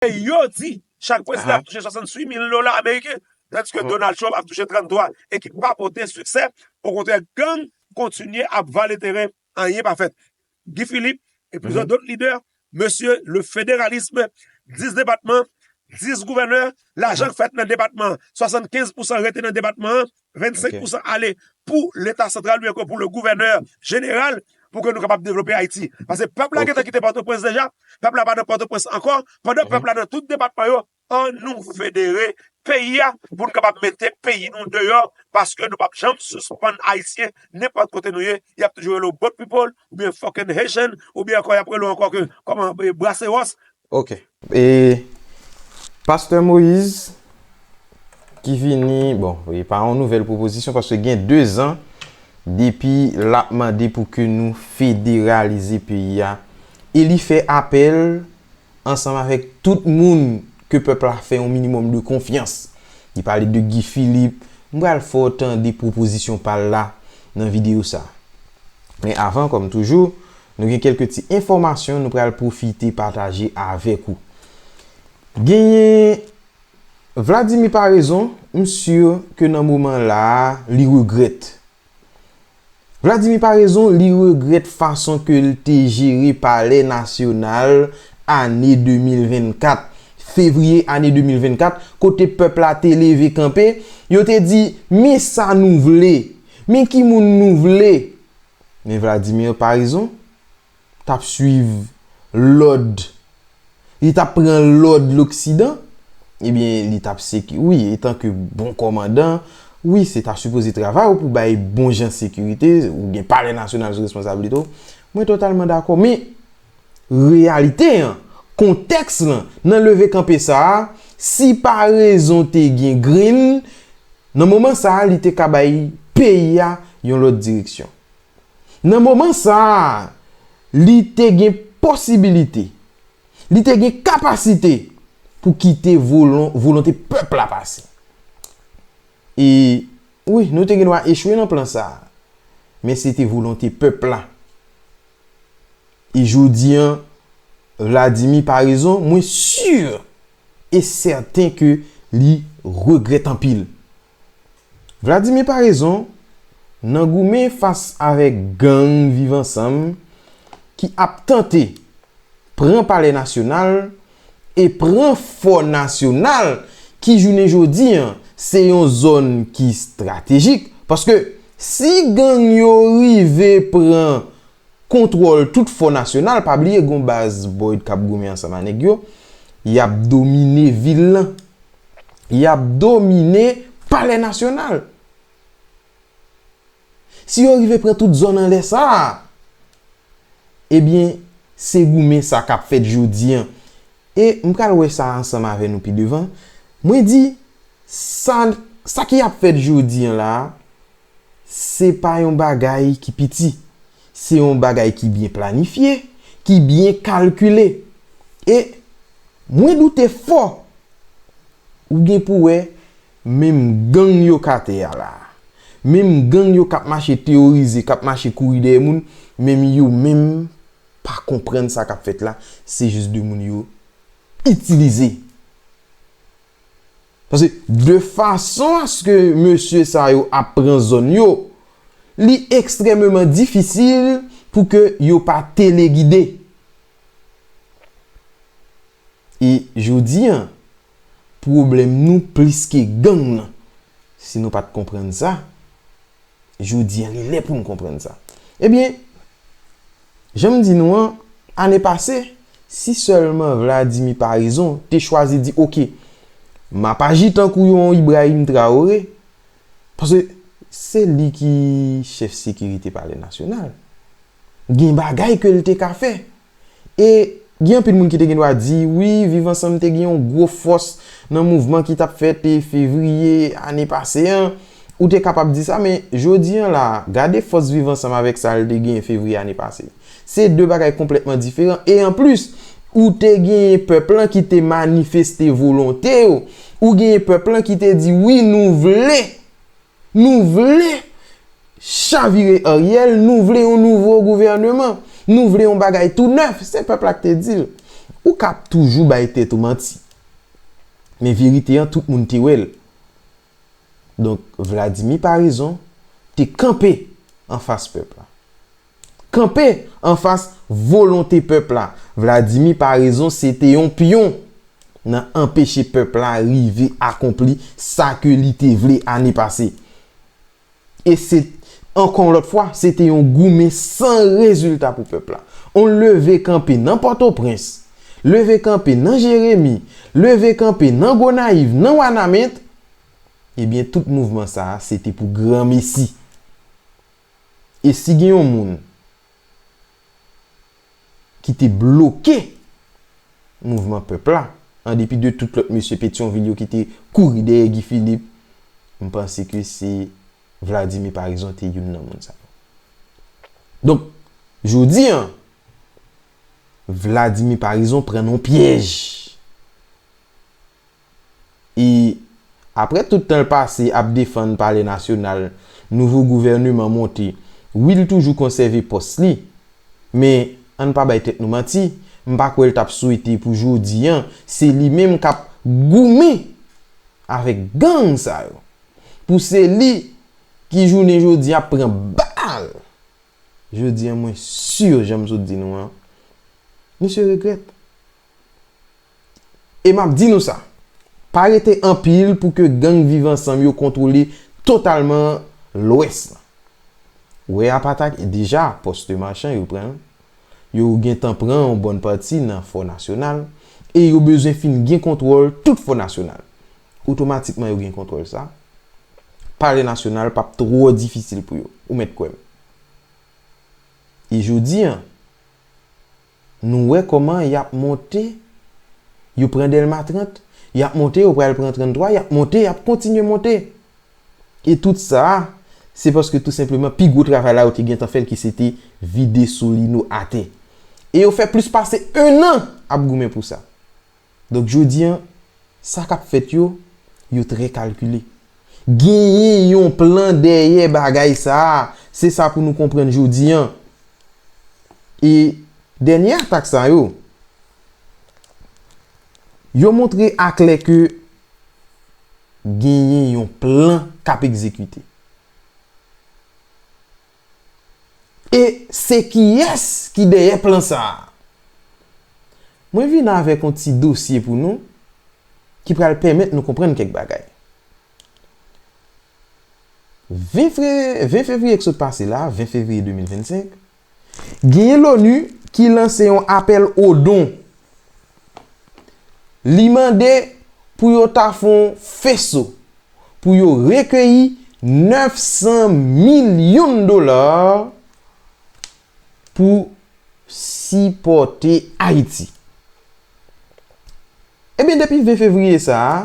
E yo di chak prezidan ap touche 68 mil dola ameriken, tandiske Donald Trump ap touche 33 e ki pa pote siksè, okontrè gang kontinye ap vale teren anyen pa fèt. Guy Philippe e plizyè dòt lidè, mesye le federalisme, 10 depatman, 10 gouvènè, lajan k fèt nan depatman, 75 pousan rete nan depatman an, 25 pousan ale pou leta santral ou enko pou le gouvènè jeneral pou ke nou kapab devlope Ayiti. Pase pèp la gete kite Pòtoprens deja, pèp la pa nan Pòtoprens anko, pandan pèp la nan tout depatman yo, an nou federe peyi a pou nou kapab mete peyi nou deyò, paske nou pap janm sispann Ayisyen, nenpòt kote nou ye, y ap toujou rele w boat people, oubyen fucking Haitian, oubyen anko y ap rele w anko ke kòman, braseros, Ok e Pasteur Moïse ki vini bon e pa yon nouvel pwopozisyon paske gen 2 zan depi lap mande pou ke nou federalize peyi a e li fè apèl ansanm avèk tout moun ke pèp la fè yon minimòm de konfyans li pale de Guy Philippe m pral fè w tande pwopozisyon pa l la nan videyo sa men avan kòm toujou nou gen kèlke ti enfòmasyon nou pral pwofite pataje avèk ou. Genyen Vladimir Paraison, m sur ke nan moman la a li regrèt. Vladimir Paraison li regrèt fason ke l te jere palè nasyonal ane 2024, fevriye ane 2024, kote pèp la te leve kanpe, yo te di, men sa nou vle, men ki moun nou vle. Men Vladimir Parizon tap swiv lòd, li tap pran lòd loksidan, ebyen li tap seki, wi etan ke bon kòmandan, wi se ta sipoze travay ou pou bay bon jan sekirite, ou gen palè nasyonal sou responsabilite w, mwen totalman dakò, men. Reyalite an, kontèks lan, nan leve kanpe sa a, si pa rezon te gen grenn, nan moman sa a li te ka bay peyi a yon lòt direksyon. Nan moman sa a, li te gen posibilite, li te gen kapasite pou kite volonte pèp la pase. E, wi, nou te gen dwa echwe nan plan sa a, men se te volonte pèp la E jodi an, Vladimir pa rezon, mwen sur e sèten ke li regrèt anpil. Vladimir pa rezon, nan goumen fas avèk gang Viv Ansanm ki ap tante pran Palè Nasyonal e pran fò nasyonal ki jounen jodi se yon zòn ki estratejik paske si gang yo rive pran kontwòl tout fò nasyonal pa bliye gon baz boyd kap goumen ansanm a nèg yo yap domine vil lan yap domine palè nasyonal. Si yo rive pran tout zòn anlè sa a, ebyen, se goumen sa k ap fèt jodi an. E m pral wè sa ansanm avè nou pi devan. Mwen di, sa, sa ki ap fèt jodi an la a, se pa yon bagay ki piti. Se yon bagay ki byen planifye, ki byen kalkile. E, mwen doute fò, ou gen pou wè, Menm gang yo k atè a la a. Menm gang yo k ap mache teworize, k ap mache kouri dèyè moun, menm yo menm pa konprann sa k ap fèt la, se jis 2 moun yo itilize. Paske de fason aske mesye sa yo ap pran zòn yo, li ekstrèmeman difisil pou ke yo pa telegide. E jodi an, Pwoblèm nou plis ke gang lan. Si nou pat konprann sa, jodi an li lè pou nou konprann sa. Ebyen, jan m di nou an, ane pase, si sèlman Vladimir Paraison te chwazi di ok, m ap aji tankou yon Ibrahim Traoré, paske se li ki chèf sekirite palè nasyonal. Gen bagay ke l te ka fè. E, gen anpil moun ki te gen dwa di, wi, Viv Ansanm te gen yon gwo fòs nan mouvman ki t ap fèt fevriye ane pase an. Ou te kapab di sa, men, jodi an la a, gade fòs Viv Ansanm avèk sa l te genyen fevriye ane pase. Se de bagay konplètman diferan. E anplis, ou te genyen pèp lan ki te manifeste volonte yo. Ou genyen pèp lan ki te di, wi, nou vle. Nou vle chavire Ariel, nou vle yon nouvo gouvèneman. Nou vle yon bagay tou nèf, se pèp la ki te di l. Ou ka ap toujou bay tèt ou manti. Men verite an tout moun te wè l. Donk Vladimir Paraison te kanpe anfas pèp la. Kanpe anfas volonte pèp la. Vladimir Paraison se te yon pyon nan anpeche pèp la rive akonpli sa ke li te vle ane pase. E se, ankò yon lòt fwa, se te yon goumen san rezilta pou pèp la. On leve kanpe nan Pòtoprens, leve kanpe nan Jeremi, leve kanpe nan Gonayiv, nan Wanament, ebyen tout mouvman sa a se te pou granmesi. E si gen yon moun ki te bloke mouvman pèp la, an depi de tout lòt mesye Petyonvil yo ki te kouri dèyè Guy Philippe, m panse ke se Vladimir Paraison te youn nan moun sa yo. Donk, jodi an, Vladimir Paraison pran nan yon pyèj. e aprè tout tan l pase ap defann palè nasyonal nouvo gouvèneman monte wi l toujou konsève pòs li men ann pa bay tèt nou manti m pa kwè l tap swete pou jodi an se li menm kap goumen avèk gang sa yo pou se li ki jounen jodi ap pran bal jodi an mwen sur jan m sot di nou an misye regrèt. E m ap di nou sa, pa rete anpil pou ke gang Viv Ansanm yo kontwole totalman Lwès lan. Ou wè Apatak e deja Poste Marchand yo pran l, yo gen tan pran yon bòn pati nan Fò Nasyonal e yo bezwen fin gen kontwòl tout Fò Nasyonal. Otomatikman yo gen kontwòl sa, Palè Nasyonal p ap twò difisil pou yo, ou mèt kwè m. E jodi an. Nou wè kòman y ap monte, yo pran Dèlma 30, y ap monte yo pral pran 33, y ap monte, y ap kontinye monte. E tout sa a, se paske tou senpleman pi gwo travay la yo te gentan fè l ki se te vide Solino atè. E yo fè plis pase ennan ap goumen pou sa. Donk jodi an, sa k ap fèt yo, yo trè kalkile. Genyen yon plan dèyè bagay sa a, se sa pou nou konprann jodi an. E dènye atak sa yo, yo montre aklè ke genyen yon plan k ap egzekite. E se kiyès ki dèyè plan sa a? Mwen vin avèk yon ti dosye pou nou ki pral pèmèt nou konprann kèk bagay. 20 fevriye k sot pase la, 20 fevriye 2025, genyen LONU ki lanse yon apèl o don. Li mande pou yo ta fè yon feso. pou yo rekeyi 900 milyon dola pou sipòte Ayiti. Ebyen depi 20 fevriye sa a,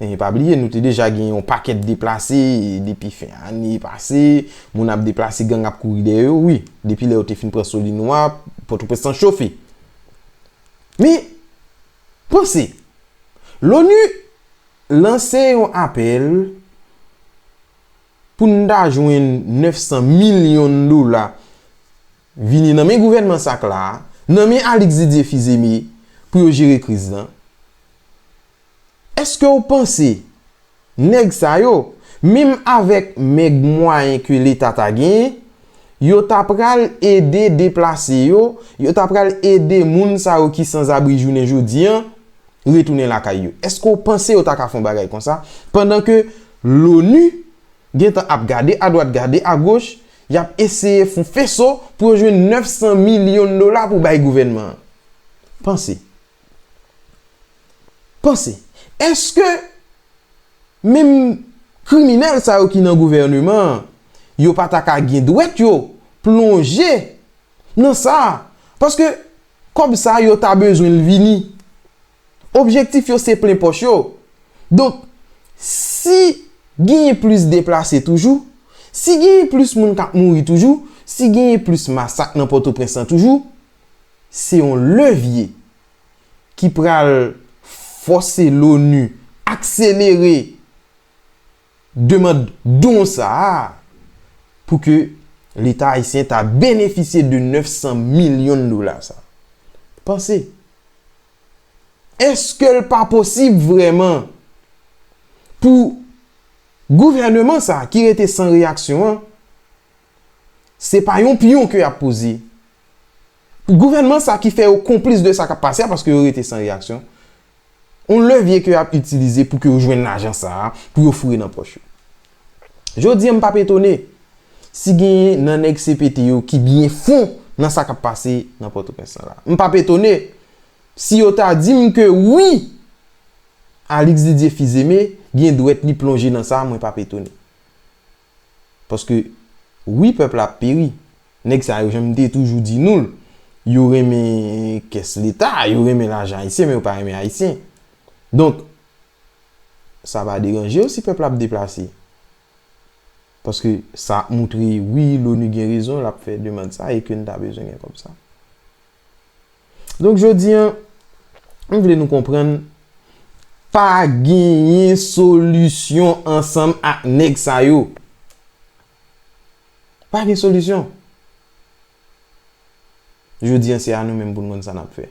e pa bliye nou te deja gen yon pakèt deplase depi fen ane pase, moun ap deplase gang ap kouri dèyè yo, wi, depi lè yo te fin pran Solino a, Pòtoprens lan chofe. Men, Panse! L'ONU lanse yon apèl pou n ta jwenn 900 milyon dola vini nan men gouvènman sa k la a, nan men Alix Didier Fils-Aimé pou yo jere kriz lan. Èske w panse Nèg sa yo, minm avèk mèg mwayen ke leta ta genyen, yo ta pral ede deplase yo, yo ta pral ede moun sa yo ki sanzabri jounen jodi an, retounen lakay yo. Eske w panse yo ta ka fè yon bagay konsa, pandan ke Loni gen tan ap gade adwat gade agoch, y ap eseye fon feso pou yo jwenn 900 milyon dola pou bay gouvènman an? Panse. Panse. Eske menm kriminèl sa yo ki nan gouvèneman an, yo pa ta ka gen dwèt yo plonje nan sa? Paske kòb sa yo ta bezwen l vini. Objektif yo se plen pòch yo. Donk, si genyen plis deplase toujou, si genyen plis moun k ap mouri toujou, si genyen plis masak nan Pòtoprens lan toujou, se yon levye ki pral fòse l'ONU akselere demand don sa a pou ke Leta Ayisyen ta benefisye de 900 milyon dola sa a. Panse, eske l pa posib vrèman pou gouvèneman sa a ki rete san reyaksyon an, Se pa yon pyon ke yap poze. Gouvènman sa ki fè yo konplis de sa kap pase a paske yo rete san reyaksyon. Yon levye ke yap itilize pou ke yo jwenn lajan sa a pou yo foure nan pòch yo. Jodi an m pap etone si genyen nan nèg CPT yo ki byen fon nan sa kap pase nan Pòtoprens lan la. M pap etone si yo ta di m ke wi Alix Didier Fils-Aimé gen dwèt li plonje nan sa mwen pap etone. Paske wi pèp la ap peri. Nèg sa yo janm te toujou di nou l, yo renmen kès leta, yo renmen lajan ayisyen men yo pa renmen ayisyen. Donk sa pa deranje yo si pèp la ap deplase. Paske sa ap moutre wi loni gen rezon l ap fè demand sa e ke n ta bezwen gen kòb sa. Donk jodi an, m vle nou konprann, pa genyen solisyon ansanm ak nèg sa yo. Pa gen solisyon. Jodi an se a nou menm pou n konn sa n ap fè.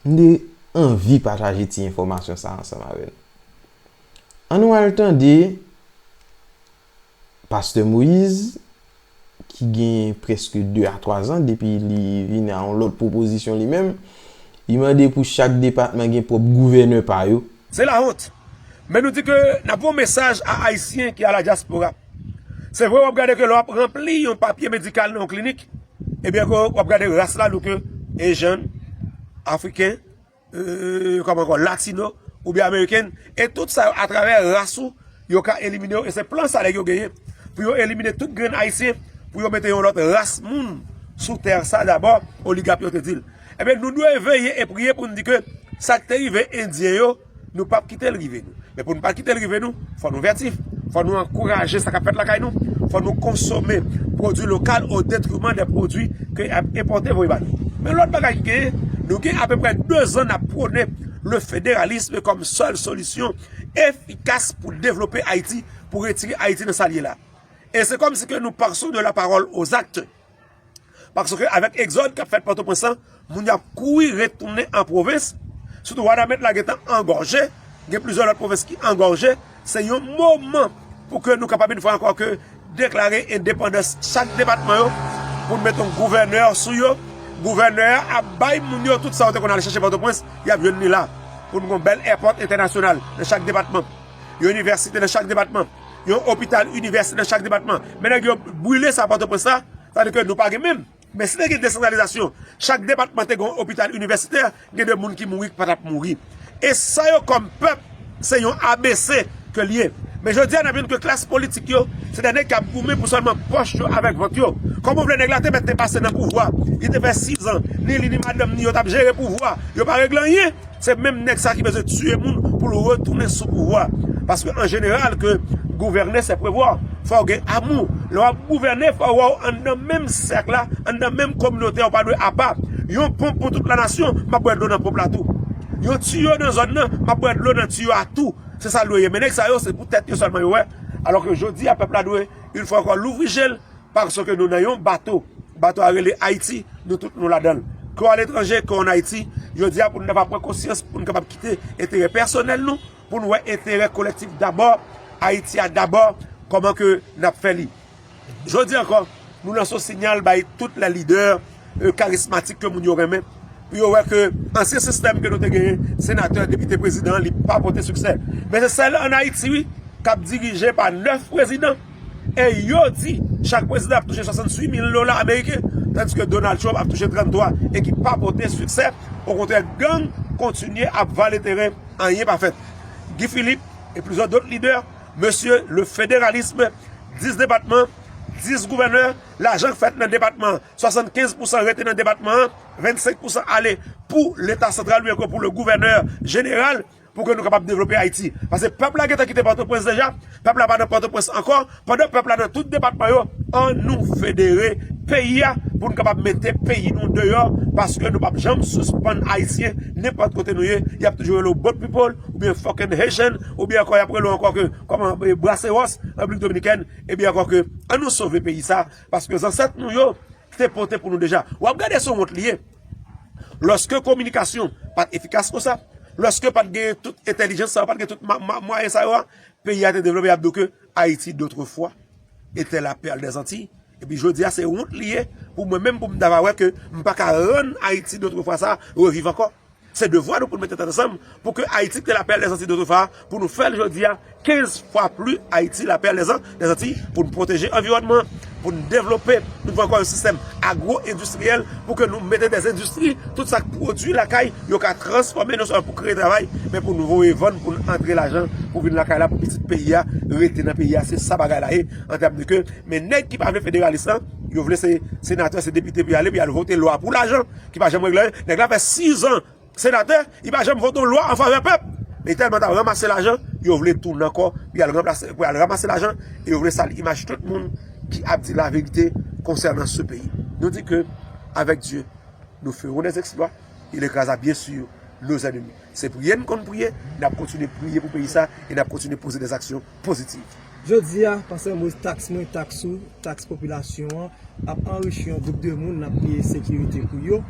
M te anvi pataje ti enfòmasyon sa a ansanm avè nou. An nou al tande. Pastè Moïse, ki genyen prèske 2 a 3 zan depi li vin a yon lòt pwopozisyon li menm, li mande pou chak depatman gen pwòp gouvènè pa yo. Se la honte. Men nou di ke nap voye yon mesaj a Ayisyen ki a la dyaspora. Se vre wap gade ke lè wap ranpli yon papye medikal nan yon klinik, ebyen ke wap gade ras la nou ke Asian, Afriken, Kòman ankò? Latino oubyen American. E tout sa yo atravè ras ou yo ka elimine ou. E se plan sa nèg yo genyen. Pou yo elimine tout grenn Ayisyen. Pou yo mete yon lòt ras moun sou tè sa dabò. Oligap yo te di l. Ebyen nou dwe veye e priye pou nou di ke sa k te rive Endyen yo nou pap kite l rive nou. Men pou nou pa kite l rive nou, fò nou vètif, fò nou ankouraje sa k ap fèt lakay nou, fò nou konsome pwodui lokal o detriman de pwodui ke y ap enpòte voye ba nou. Men lòt bagay ki genyen, nou gen apeprè 2 zan n ap pwone le federalisme kòm sèl solisyon efikas pou devlope Ayiti, pou retire Ayiti nan sa l ye la. E se kòm si ke nou pason de la pawòl o zakte. Paske avèk egzòd kap fèt Pòtoprens lan, moun yo ap kouri retounen an pwovens, sitou Wanament la gentan angòje, gen plizyè lòt pwovens ki angòje, se yon moman pou ke nou kapab yon fwa ankò ke deklare endepandans chak depatman yo, pou nou met yon gouvènè sou yo, gouvènè a ap bay moun yo tout sa yo te konn al chèche Pòtoprens, yap jwenn li la, pou nou gen yon bèl èpòt entènasyonal nan chak depatman, yon inivèsite nan chak depatman. Yon opital inivèsite nan chak depatman. Men nèg yo brile sa Pòtoprens la, sa vle di ke nou pa gen menm. Men si te gen desantralizasyon, chak depatman te gen yon opital inivèsitè, gen de moun ki mouri ki pa t ap mouri. E sa yo kòm pèp, se yon ABC ke l ye. Men jodi a n ap jwenn ke klas politik yo, se de nèg k ap goumen pou sèlman pòch yo avèk vant yo. Kòman w vle nèg la te mèt te pase nan pouvwa, li te fè sizan, ni li ni madanm ni yo t ap jere pouvwa, yo pa regle anyen. Se menm nèg sa ki bezwen tiye moun pou l retounen sou pouvwa. Paske an jeneral ke gouvène se prevwa. Fò w gen amou. Lè w ap gouvène fò w wè w anndan menm sèk la, anndan menm kominote a, w pa dwe apa. Yon ponp pou tout la nasyon, m ap bwè dlo nan ponp la tou. Yon tiyo nan zòn nan, m ap bwè dlo nan tiyo a tou. Se sa l dwe ye. Men nèg sa yo se pou tèt yo sèlman yo wè. Alò ke jodi a pèp la dwe, yon fwa ankò, louvri je l. Paske nou nan yon bato. Bato a rele Ayiti, nou tout nou ladan l. Ke w aletranje, ke w an Ayiti, jodi a pou nou ta va pran konsyans, pou nou kapab kite enterè pèsonèl nou, pou nou wè enterè kolektif dabò, Ayiti a dabò, kòman ke n ap fè li. Jodi ankò, nou lanse yon sinyal bay tout lè lidè. karismatik ke moun yo renmen pou yo wè ke ansyen sistèm ke nou te genyen senatè, depite, prezidan li pa pote siksè men se sèl an Ayiti wi kap dirije pa 9 prezidan e yo di chak prezidan ap touche 68 mil dola ameriken tandiske Donald Trump ap touche 33 e ki pa pote siksè o kontrè gang kontinye ap vale teren anyen pa fèt Guy Philippe e plizò dot lidè mesye le federalisme 10 depatman 10 gouvènè lajan k fèt nan depatman an, 75 pousan rete nan depatman an, 25 pousan ale pou leta santral oubyen ke pou le gouvènè jeneral pou ke nou kapab devlope Ayiti. Pase pèp la gentan kite Pòtoprens deja, pèp la pa nan Pòtoprens ankò, pandan pèp la nan tout depatman yo, an nou federe peyi a pou nou kapab mete peyi nou deyò paske nou pap janm sispann Ayisyen nenpòt kote nou ye, y ap toujou rele w boat people oubyen fucking Haitian oubyen ankò y ap rele w ankò ke kòman Braceros, Repiblik Dominikèn. Ebyen ankò ke an nou sove peyi sa paske zansèt nou yo te pote pou nou deja. Wap gade son wont li ye. Lòske kominikasyon pat efikas konsa, lòske pat gen tout entelijans sa yo, pat gen tout mwayen sa yo a, peyi a te devlope yap di w ke Ayiti dotrefwa etè la pèl dè zanti. Epi jodi a se wont li ye pou mwen menm pou m ta va wè ke m pa ka rann Ayiti dotrefwa sa reviv ankò. Se devwa nou pou nou mete tèt ansanm pou ke Ayiti ki te la perle des Antilles d'autrefois a, pou nou fè l jodi a 15 fwa pli Ayiti la perle des Antilles, pou nou pwoteje anviwònman an, pou nou devlope, nou dwe ankò yon sistèm agwo endistriyèl pou ke nou mete des endistri, tout sa k pwodui lakay yo ka transfòme non sèlman pou kreye travay, men pou nou voye vann pou nou antre lajan pou vin lakay la pou pitit peyi a rete nan peyi a, se sa bagay la ye an tèm de ke men nèg ki pa vle federalis lan, yo vle se senatè, se depite pou y ale pou y al vote lwa pou lajan. ki pa janm regle anyen, nèg la fè 6 ans senatè, li pa janm vote yon lwa an favè pèp, li tèlman tap ranmase lajan, yo vle tounen ankò pou yal ranplase, pou yal ranmase lajan, e yo vle sali imaj tout moun ki ap di la verite konsènan se peyi. Nou di ke avèk Dye nou ferons des exploits, il écrasa bien sur nos ennemis. Se priye nou konn priye, nap kontinye priye pou peyi sa, e nap kontinye poze des aksyon. pozitiv. Jodi a, pa sèlman se taks mwen, taks ou, taks popilasyon an, ap anrichi yon gwoup de moun, n ap peye sekirite pou yo.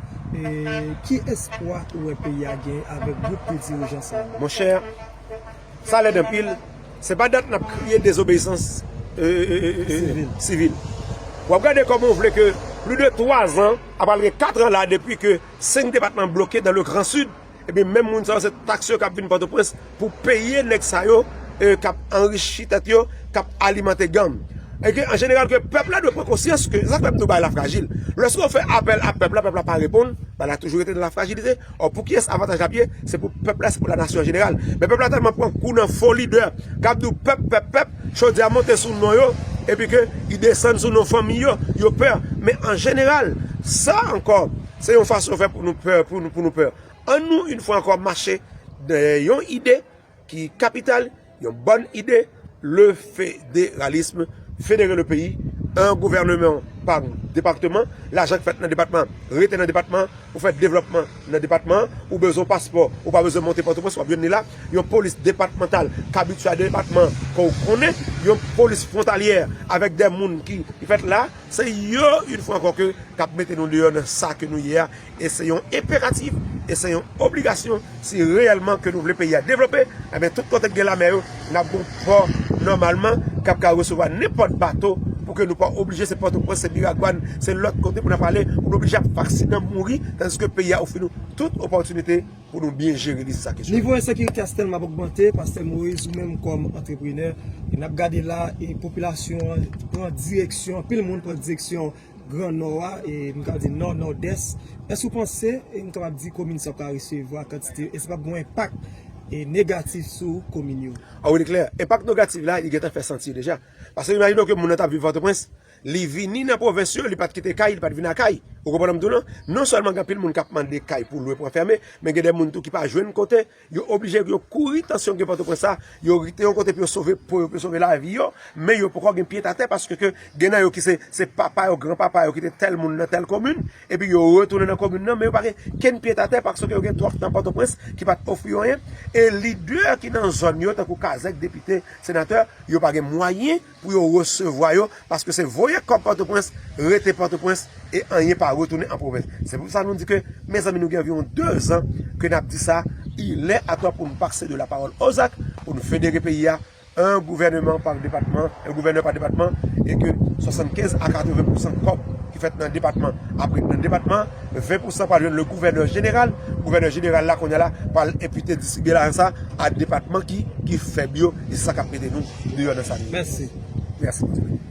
Ki espwa ou wè peyi a genyen avèk gwoup de dirijan sa yo? Monchè, sa lèd anpil. Se pa dat n ap kriye dezobeyisans sivil. W ap gade kòman ou vle ke plis de twazan, a pral gen katran la depi ke senk depatman bloke dan le gran sid. Ebyen menm moun sa yo se tax yo kap vin potoprens pou peye neg sa yo kap anrichi tet yo kap alimante gang. Eke an jeneral ke pep la dwe pran konsyans ke sa fem di w bay la frajil. Loske w fe apel a pep la pep la pa reponn bay la toujou rete nan la frajilite. Or pou kiyes avantaj la ap ye se pou pep la se pou la nasyon an jeneral. Men pep la telman pran kou nan fo lidè kap di w pep pep pep chodyè a monte sou non yo epi ke li desann sou non fanmiy yo yo pè men an jeneral sa anko. Se yon fason yo fè pou nou pè, pou nou, pou nou pè. An nou, yn fwa ankò, mache dèyè yon ide ki kapital, yon bòn ide, le federalisme, federe le peyi, an gouvèneman pa depakteman, lajan k fèt nan depatman rete nan depatman, ou fè devlòpman nan depatman, ou bezwen paspò, ou pa bezwen monte Pòtoprens, w ap jwenn li la, yon polis depatmantal k abitye a depatman ke w konnen, yon polis fwontalyè avèk de moun ki fèt la. Se yo, une fwa ankò, ke k ap mete nou deyò nan sa ke nou ye a, e se yon enperatif, e se yon obligasyon, si reyèlman ke nou vle peyi a devlope, enben tout kote k gen lame yo, n ap gen yon pò nòmalman k ap ka resevwa nenpòt bato, pou ke nou pa oblije se Pòtoprens, se Miragwàn, se lòt kote pou n ap ale, pou n oblije ap fè aksidan, mouri, tandiske peyi a ofri nou tout opòtinite. Pou nou byen jere lis sa kesyonè. Nivo ensekirite a tèlman ap ogmante, pastè Moïse ou menm kòm antreprenè, e n ap gade la e popilasyon an pran direksyon, anpil moun pran direksyon gran nò a, e m ka di nò, nòdès, èske ou panse e m kapab di komin sa pral resevwa kantite, èske pap gen yon enpak e negatif sou komin yo? A wi li klè, enpak negatif la li gentan fè santi deja. Pase imajine w ke moun nan t ap viv Pòtoprens, Li vini nan pwovens yo, li pat kite kay, li pat vin a kay. Ou konprann sa m di w lan? Non sèlman gen anpil moun k ap mande kay pou lwe pou anfème, men gen de moun tou ki pa jwenn kote, yo oblije yo kouri tansyon gen Pòtoprens la, yo rete yon kote pou yo sove po yo, pou yo sove lavi yo, men yo poko gen pyet atè paske ke gen nan yo ki se se papa yo, gran papa yo ki te tèl moun nan tèl komin, epi yo retounen nan komin nan men yo pa gen kenn pyet atè paske ke yo gen twòp tan Pòtoprens ki pat ofri yo anyen e lidè ki nan zòn yo tankou kazèk, depite, senatè, yo pa gen mwayen. pou yo resevwa yo paske se voye kòb pòtoprens rete pòtoprens e anyen pa retounen an pwovens se pou sa nou di ke mezanmi nou gen anviwon 2 zan ke nap di sa ilè ato pou nou pase de la pawòl o zak pou nou federe peyi a 1 gouvèneman pa depatman 1 gouvènè pa depatman e ke 75 a 80 pousan kòb ki fèt nan depatman apre nan depatman 20 pousan pral jwenn le gouvènè jeneral gouvènè jeneral la kounye a la pral enpite distribye lajan sa a depatman ki fèb yo e se sa k ap mete nou deyò nan sa nou ye mèsi mèsi